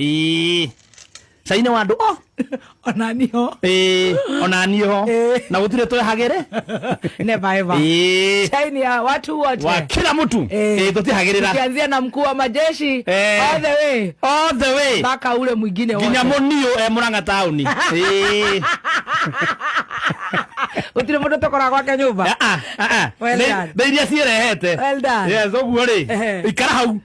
Ii. Caine wa andũ o ona niho Ĩĩ, ona niĩ ho Ĩĩ. na gũtirĩ twehagĩrĩ never ever Ĩĩ. chaini ya watu wote wa kila mtu Ĩĩ. Ĩĩ, tũtihagĩrĩra ukianzia na mkuu wa majeshi Eh. all the way all the way mpaka ule mwingine wote nginya mũniũ e mũrang'a taũni Ĩĩ. utire mundu tokora gwake nyumba Ah, ah, ah, ah. Well Nĩ- done. nĩ iria ciĩrehete Well done. Yes, ũguo rĩ Ehe. ikara hau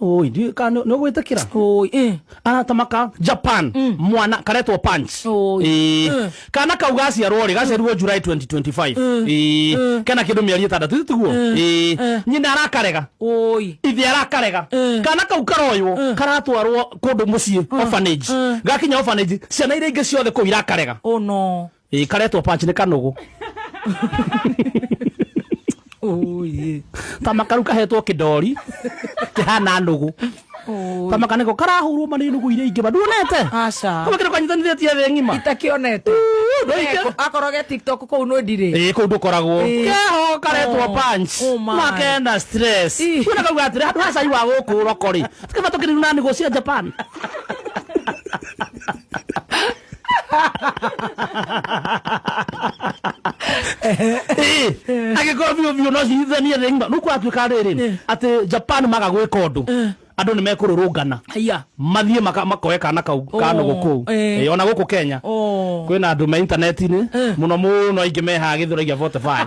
Oi, ndiũĩ kana nĩ- nĩ ũgwĩtĩkĩra Oi, eh. arata maka japan mwana karetwo punch Oi. Ĩĩ. Mm. kana kau gaciarwo rĩ gaciarirwo july 2025 Ĩĩ. kena kĩndũ mĩeri ĩtandatũ ĩ tiguo Ĩĩ. nyina arakarega Oi. ithe arakarega Mm. kana kau karoywo Mm. karatwarwo kũndũ mũciĩ orphanage Mm. gakinya orphanage ciana iria ingĩ ciothe kũu irakarega Oh no. Ĩĩ karetwo panch nĩ kanũgũ. Ũyĩ. Ta makaru kahetwo kĩndori kĩhana nũgũ. Ta maka nĩko karahũrwo ma nĩ nũgũ iria ingĩ ma. Nduonete? Aca. Kama kĩndũ kanyitanithĩtie thĩ ng'ima. Itakĩonete. Ndũ ingĩ- Akoroge TikTok kũu nũ ndirĩ. Ĩĩ kũu ndũkoragwo. Ĩĩ. Keho karetwo Oh, panch. oh my. Na kena stress. Ih. Kuona kauga atĩrĩ handũ ha cai wa gũkũ ũroko-rĩ. Tikaba tũkĩrĩu na nũgũ cia Japan. agĩkorwo biũ biũ no cihithanie thĩ ngima nuku atuĩka rĩrĩ atĩ japan maga gwĩka ũndũ andũ nĩ mekũrũrũngana Aya. mathiĩ maka- makoe kana kau kanogo kũu eh. Eh, ona gũkũ kenya Oh. kwĩna andũ me intaneti-inĩ mũno mũno aingĩ mehaga gĩthũragia 45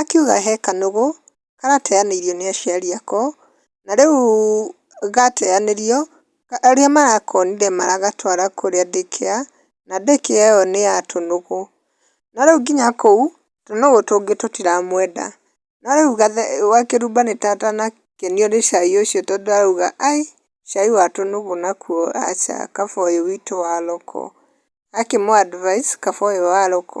akiuga he kanũgũ karateyanĩirio nĩ aciari ako, na rĩu gateyanĩrio, arĩa marakonire maragatwara kũrĩa day care, na day care ĩyo nĩ ya tũnũgũ. No rĩu nginya kũu, tũnũgũ tũngĩ tũtiramwenda. No rĩu gathe gakĩrumba nĩ katanakenio nĩ cai ũcio tondũ arauga aĩ, cai wa tũnũgũ nakuo aca, kaba ũyũ witũ wa loko. Gakĩmũ advice kaba ũyũ wa loko.